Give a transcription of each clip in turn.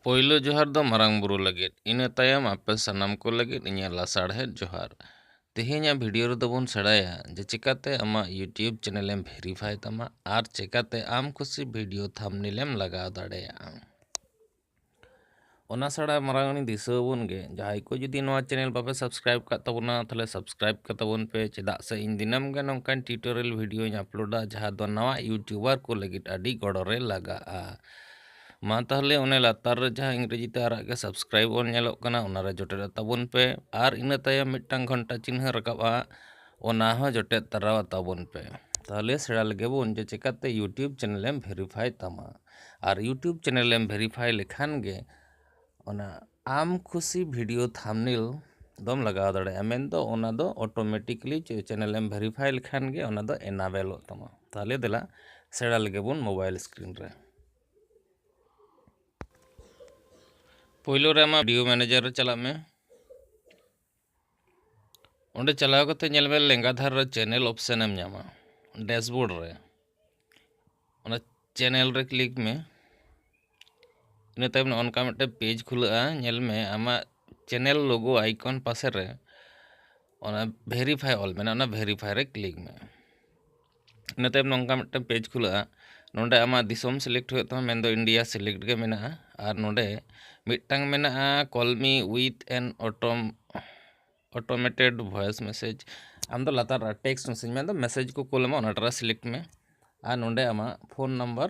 ᱯᱳᱭᱞᱳ ᱡᱚᱦᱟᱨ ᱫᱚ ᱢᱟᱨᱟᱝ ᱵᱩᱨᱩ ᱞᱟᱹᱜᱤᱫ ᱤᱱᱟᱹ ᱛᱟᱭᱚᱢ ᱟᱯᱮ ᱥᱟᱱᱟᱢ ᱠᱚ ᱞᱟᱹᱜᱤᱫ ᱤᱧᱟᱹᱜ ᱞᱟᱥᱟᱲᱦᱮᱫ ᱡᱚᱦᱟᱨ᱾ ᱛᱮᱦᱮᱧᱟᱜ ᱵᱷᱤᱰᱤᱭᱳ ᱨᱮᱫᱚ ᱵᱚᱱ ᱥᱮᱬᱟᱭᱟ ᱡᱮ ᱪᱮᱠᱟᱛᱮ ᱟᱢᱟᱜ ᱭᱩᱴᱭᱩᱵᱽ ᱪᱮᱱᱮᱞ ᱮᱢ ᱵᱷᱮᱨᱤᱯᱷᱟᱭ ᱛᱟᱢᱟ ᱟᱨ ᱪᱮᱠᱟᱛᱮ ᱟᱢ ᱠᱩᱥᱤ ᱵᱷᱤᱰᱤᱭᱳ ᱛᱷᱟᱢᱵᱽᱱᱮᱞ ᱮᱢ ᱞᱟᱜᱟᱣ ᱫᱟᱲᱮᱭᱟᱜᱼᱟ᱾ ᱚᱱᱟ ᱪᱷᱟᱲᱟ ᱢᱟᱨᱟᱝ ᱦᱚᱲᱤᱧ ᱫᱤᱥᱟᱹ ᱟᱵᱚᱱ ᱜᱮ ᱡᱟᱦᱟᱸᱭ ᱠᱚ ᱡᱩᱫᱤ ᱱᱚᱣᱟ ᱪᱮᱱᱮᱞ ᱵᱟᱯᱮ ᱥᱟᱵᱥᱠᱨᱟᱭᱤᱵᱽ ᱟᱠᱟᱫ ᱛᱟᱵᱚᱱᱟ ᱛᱟᱦᱚᱞᱮ ᱥᱟᱵᱥᱠᱨᱟᱭᱤᱵᱽ ᱠᱟᱛᱟᱵᱚᱱ ᱯᱮ ᱪᱮᱫᱟᱜ ᱥᱮ ᱤᱧ ᱫᱤᱱᱟᱹᱢ ᱜᱮ ᱱᱚᱝᱠᱟᱱ ᱴᱤᱭᱩᱴᱳᱨᱤᱭᱟᱞ ᱵᱷᱤᱰᱤᱭᱳᱧ ᱟᱯᱞᱳᱰᱟ ᱡᱟᱦᱟᱸ ᱫᱚ ᱱᱟᱣᱟ ᱤᱭᱩᱴᱤᱭᱩᱵᱟᱨ ᱠᱚ ᱞᱟᱹᱜᱤᱫ ᱟᱹᱰᱤ ᱜᱚᱲᱚ ᱨᱮ ᱞᱟᱜᱟᱜᱼᱟ ᱢᱟ ᱛᱟᱦᱚᱞᱮ ᱚᱱᱮ ᱞᱟᱛᱟᱨ ᱨᱮ ᱡᱟᱦᱟᱸ ᱤᱝᱨᱮᱡᱤ ᱛᱮ ᱟᱨᱟᱜ ᱜᱮ ᱥᱟᱵᱥᱠᱨᱟᱭᱤᱵᱽ ᱚᱞ ᱧᱮᱞᱚᱜ ᱠᱟᱱᱟ ᱚᱱᱟᱨᱮ ᱡᱚᱴᱮᱫ ᱟᱛᱟᱵᱚᱱ ᱯᱮ ᱟᱨ ᱤᱱᱟᱹ ᱛᱟᱭᱚᱢ ᱢᱤᱫᱴᱟᱝ ᱜᱷᱚᱱᱴᱟ ᱪᱤᱱᱦᱟᱹ ᱨᱟᱠᱟᱵᱼᱟ ᱚᱱᱟ ᱦᱚᱸ ᱡᱚᱴᱮᱫ ᱛᱟᱨᱟ ᱟᱛᱟᱵᱚᱱ ᱯᱮ ᱛᱟᱦᱚᱞᱮ ᱥᱮᱬᱟ ᱞᱮᱜᱮ ᱵᱚᱱ ᱡᱮ ᱪᱮᱠᱟᱛᱮ ᱤᱭᱩᱴᱤᱭᱩᱵᱽ ᱪᱮᱱᱮᱞᱮᱢ ᱵᱷᱮᱨᱤᱯᱷᱟᱭ ᱛᱟᱢᱟ ᱟᱨ ᱤᱭᱩᱴᱩᱵᱽ ᱪᱮᱱᱮᱞᱮᱢ ᱵᱷᱮᱨᱤᱯᱷᱟᱭ ᱞᱮᱠᱷᱟᱱ ᱜᱮ ᱚᱱᱟ ᱟᱢ ᱠᱷᱩᱥᱤ ᱵᱷᱤᱰᱤᱭᱳ ᱛᱷᱟᱢᱱᱮᱞ ᱫᱚᱢ ᱞᱟᱜᱟᱣ ᱫᱟᱲᱮᱭᱟᱜᱼᱟ ᱢᱮᱱᱫᱚ ᱚᱱᱟ ᱫᱚ ᱚᱴᱳᱢᱮᱴᱤᱠᱞᱤ ᱪᱮᱱᱮᱞᱮᱢ ᱵᱷᱮᱨᱤᱯᱷᱟᱭ ᱞᱮᱠᱷᱟᱱ ᱜᱮ ᱚᱱᱟ ᱫᱚ ᱮᱱᱟᱵᱮᱞᱚᱜ ᱛᱟᱢᱟ ᱛᱟᱦᱚᱞᱮ ᱫᱮᱞᱟ ᱥᱮᱬᱟ ᱞᱮᱜᱮ ᱵᱚᱱ ᱢᱳᱵᱟᱭᱤᱞ ᱥᱠᱨᱤᱱ ᱨᱮ ᱯᱳᱭᱞᱳ ᱨᱮ ᱟᱢᱟᱜ ᱵᱷᱤᱰᱤᱭᱳ ᱢᱮᱱᱮᱡᱟᱨ ᱨᱮ ᱪᱟᱞᱟᱜ ᱢᱮ ᱚᱸᱰᱮ ᱪᱟᱞᱟᱣ ᱠᱟᱛᱮ ᱧᱮᱞ ᱢᱮ ᱞᱮᱸᱜᱟ ᱫᱷᱟᱨᱮ ᱨᱮ ᱪᱮᱱᱮᱞ ᱚᱯᱷᱥᱮᱱ ᱮᱢ ᱧᱟᱢᱟ ᱰᱮᱥᱵᱳᱨᱰ ᱨᱮ ᱚᱱᱟ ᱪᱮᱱᱮᱞ ᱨᱮ ᱠᱞᱤᱠ ᱢᱮ ᱤᱱᱟᱹ ᱛᱟᱭᱚᱢ ᱚᱱᱠᱟ ᱢᱤᱫᱴᱮᱱ ᱯᱮᱡᱽ ᱠᱷᱩᱞᱟᱹᱜᱼᱟ ᱧᱮᱞ ᱢᱮ ᱟᱢᱟᱜ ᱪᱮᱱᱮᱞ ᱞᱳᱜᱳ ᱟᱭᱠᱚᱱ ᱯᱟᱥᱮ ᱨᱮ ᱚᱱᱟ ᱵᱷᱮᱨᱤᱯᱷᱟᱭ ᱚᱞ ᱢᱮᱱᱟᱜᱼᱟ ᱚᱱᱟ ᱵᱷᱮᱨᱤᱯᱷᱟᱭ ᱨᱮ ᱠᱞᱤᱠ ᱢᱮ ᱤᱱᱟᱹ ᱛᱟᱭᱚᱢ ᱱᱚᱝᱠᱟ ᱢᱤᱫᱴᱟᱝ ᱯᱮᱡᱽ ᱠᱷᱩᱞᱟᱹᱜᱼᱟ ᱱᱚᱰᱮ ᱟᱢᱟᱜ ᱫᱤᱥᱚᱢ ᱥᱤᱞᱮᱠᱴ ᱦᱩᱭᱩᱜ ᱛᱟᱢᱟ ᱢᱮᱱᱫᱚ ᱤᱱᱰᱤᱭᱟ ᱥᱤᱞᱮᱠᱴ ᱜᱮ ᱢᱮᱱᱟᱜᱼᱟ ᱟᱨ ᱱᱚᱰᱮ ᱢᱤᱫᱴᱟᱝ ᱢᱮᱱᱟᱜᱼᱟ ᱠᱚᱞᱢᱤ ᱩᱭᱤᱛᱷ ᱮᱱ ᱚᱴᱳᱢ ᱚᱴᱳᱢᱮᱴᱮᱰ ᱵᱷᱚᱭᱮᱥ ᱢᱮᱥᱮᱡᱽ ᱟᱢ ᱫᱚ ᱞᱟᱛᱟᱨ ᱴᱮᱠᱥᱴ ᱢᱮᱥᱮᱡᱽ ᱢᱮᱱᱫᱚ ᱢᱮᱥᱮᱡᱽ ᱠᱚ ᱠᱩᱞ ᱟᱢᱟ ᱚᱱᱟᱴᱟᱜ ᱨᱮ ᱥᱤᱞᱮᱠᱴ ᱢᱮ ᱟᱨ ᱱᱚᱰᱮ ᱟᱢᱟᱜ ᱯᱷᱳᱱ ᱱᱟᱢᱵᱟᱨ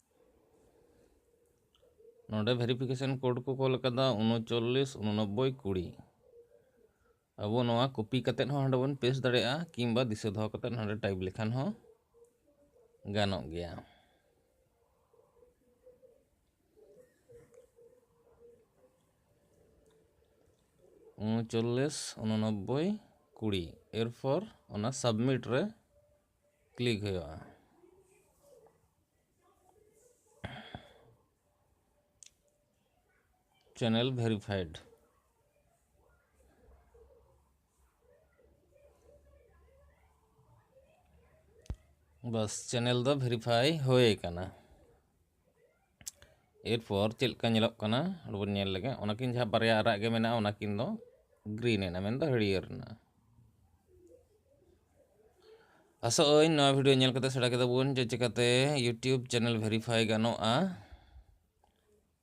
ᱱᱚᱰᱮ ᱵᱷᱮᱨᱤᱯᱷᱤᱠᱮᱥᱚᱱ ᱠᱳᱰ ᱠᱚ ᱠᱚᱞ ᱟᱠᱟᱫᱟ ᱩᱱᱚᱪᱚᱞᱞᱤᱥ ᱩᱱᱚᱱᱚᱵᱵᱳᱭ ᱠᱩᱲᱤ ᱟᱵᱚ ᱱᱚᱣᱟ ᱠᱚᱯᱤ ᱠᱟᱛᱮᱫ ᱦᱚᱸ ᱦᱟᱸᱰᱮ ᱵᱚᱱ ᱯᱮᱥᱴ ᱫᱟᱲᱮᱭᱟᱜᱼᱟ ᱠᱤᱝᱵᱟ ᱫᱤᱥᱟᱹ ᱫᱚᱦᱚ ᱠᱟᱛᱮᱫ ᱦᱟᱸᱰᱮ ᱴᱟᱭᱤᱯ ᱞᱮᱠᱷᱟᱱ ᱦᱚᱸ ᱜᱟᱱᱚᱜ ᱜᱮᱭᱟ ᱩᱱᱚᱪᱚᱞᱞᱤᱥ ᱩᱱᱚᱱᱚᱵᱵᱳᱭ ᱠᱩᱲᱤ ᱮᱨᱯᱚᱨ ᱚᱱᱟ ᱥᱟᱵᱢᱤᱴ ᱨᱮ ᱠᱞᱤᱠ ᱦᱩᱭᱩᱜᱼᱟ ᱪᱮᱱᱮᱞ ᱵᱷᱮᱨᱤᱯᱷᱟᱭᱤᱰ ᱵᱟᱥ ᱪᱮᱱᱮᱞ ᱫᱚ ᱵᱷᱮᱨᱤᱯᱷᱟᱭ ᱦᱩᱭ ᱟᱠᱟᱱᱟ ᱮᱨᱯᱚᱨ ᱪᱮᱫ ᱞᱮᱠᱟ ᱧᱮᱞᱚᱜ ᱠᱟᱱᱟ ᱵᱚᱱ ᱧᱮᱞ ᱞᱮᱜᱮ ᱚᱱᱟᱠᱤᱱ ᱡᱟᱦᱟᱸ ᱵᱟᱨᱭᱟ ᱟᱨᱟᱜ ᱜᱮ ᱢᱮᱱᱟᱜᱼᱟ ᱚᱱᱟᱠᱤᱱ ᱫᱚ ᱜᱨᱤᱱ ᱮᱱᱟ ᱢᱮᱱᱫᱚ ᱦᱟᱹᱨᱭᱟᱹᱲ ᱮᱱᱟ ᱟᱥᱚᱜ ᱟᱹᱧ ᱱᱚᱣᱟ ᱵᱷᱤᱰᱤᱭᱳ ᱧᱮᱞ ᱠᱟᱛᱮ ᱥᱮᱬᱟ ᱠᱮᱫᱟ ᱵᱚᱱ ᱡᱮ ᱪᱤᱠᱟᱹᱛᱮ ᱤᱭᱩᱴᱤᱭᱩᱵᱽ ᱪᱮᱱᱮᱞ ᱵᱷᱮᱨᱤᱯᱷᱟᱭ ᱜᱟᱱᱚᱜᱼᱟ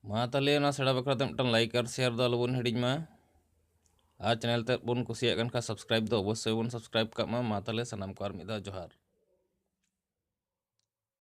ᱢᱟ ᱛᱟᱦᱚᱞᱮ ᱚᱱᱟ ᱥᱮᱬᱟ ᱵᱟᱠᱷᱨᱟ ᱛᱮ ᱢᱤᱫᱴᱟᱝ ᱞᱟᱭᱤᱠ ᱟᱨ ᱥᱮᱭᱟᱨ ᱫᱚ ᱟᱞᱚᱵᱚᱱ ᱦᱤᱲᱤᱧ ᱢᱟ ᱟᱨ ᱪᱮᱱᱮᱞ ᱛᱮ ᱵᱚᱱ ᱠᱩᱥᱤᱭᱟᱜ ᱠᱟᱱ ᱠᱷᱟᱱ ᱥᱟᱵᱥᱠᱨᱟᱭᱤᱵ ᱫᱚ ᱚᱵᱚᱥᱥᱳᱭ ᱵᱚᱱ ᱥᱟᱵᱥᱠᱨᱟᱭᱤᱵ ᱠᱟᱜ ᱢᱟ ᱢᱟ ᱛᱟᱦᱚᱞᱮ ᱥᱟᱱᱟᱢ ᱠᱚ ᱟᱨ ᱢᱤᱫ ᱫᱷᱟᱣ ᱡᱚᱦᱟᱨ